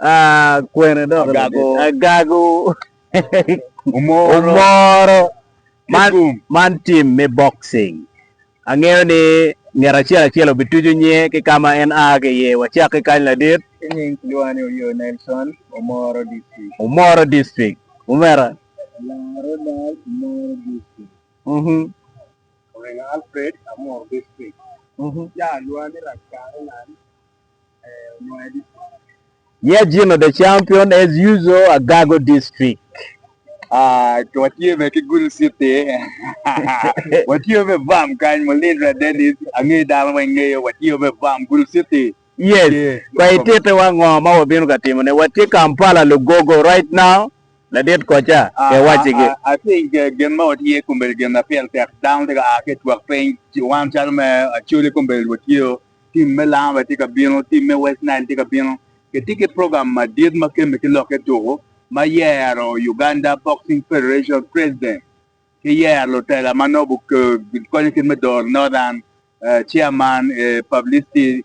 Ah, kwene dok Agago. Agago. Omoro. Omoro. Man, man tim me boxing. Angeyo ni nget acel acel obitucu nyinge ki ka ma en a ki iye. Wacak ki kany ladit. Kinying kilwonga ni Oyoo Nelson, Omoro District. Omoro District. Omera? Laro Dal, Omoro District. Mhm. Orengo Alfred, Amoro District. Mhm. Jaa Lwani Rak Karelan, Yeah Gino the champion as usual Agago district. Ah, watye be ki Gulu City. watye be bam kany Mulindra Dennis, angeyo dano weng ngeyo, watye be bam Gulu City. Yes, kwa itite wa ngo ma wabino ka timo ne? Watye Kampala Lugogo right now. Ladit koca, ah, e waci gi. Ah, I think uh, gin ma watye kumbel gin na pyel tek dano tye ka a ki twak piny, wan calo me Acholi kumbel watye Tim me Langa bene tye ka bino, tim me West Nile tye ka bino. Kitye ki program madit ma kemme ki lokke tuku ma yero Uganda Boxing Federation President ki yero lutela ma nongo gikonyo kit me doro Northern, Chairman, Publicity,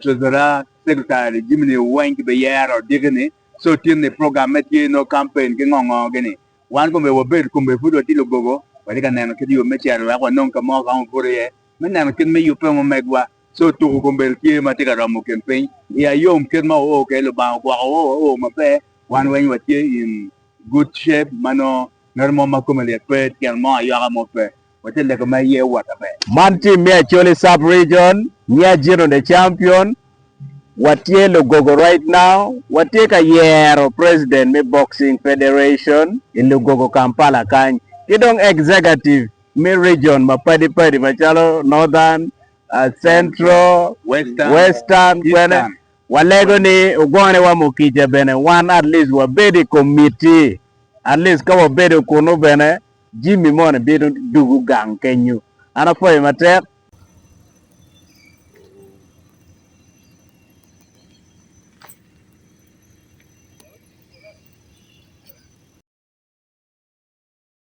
Treasurer, Secretary, jami-ni weng kibiyero diki-ni. So tin-ni program me tye nongo campaign ki ngo ngo gini. Wan kong myero wabed kong bene pud watye lugogo, watye ka neno kit yo me cito wek wanong ka mo ka ongo obuto iye. Me neno kit me yubbe mo megwa, co tuku kombeddi tye ma tye ka romo kin piny i ayom kit ma oo kede lubanga ogwoko oo wa oo maber wan weng wa tye in good shape ma nongo ngat mo ma kome lyet pe tyen mo ayoko mo pe wa tye lego ma iye owot aber. Man tim me Acholi sub region nya Gino the champion wa tye lugogo right now wa tye ka yero president me boxing federation i lugogo Kampala kany ki dong executive me region mapadi padi macalo Northern, Central, Western kwene walego ni ogone wa mo kica bene wan at least wabed i komiti at least ka wabedo kunu bene Jimmy moni bino dugu gang kenyu an apwoyo matek.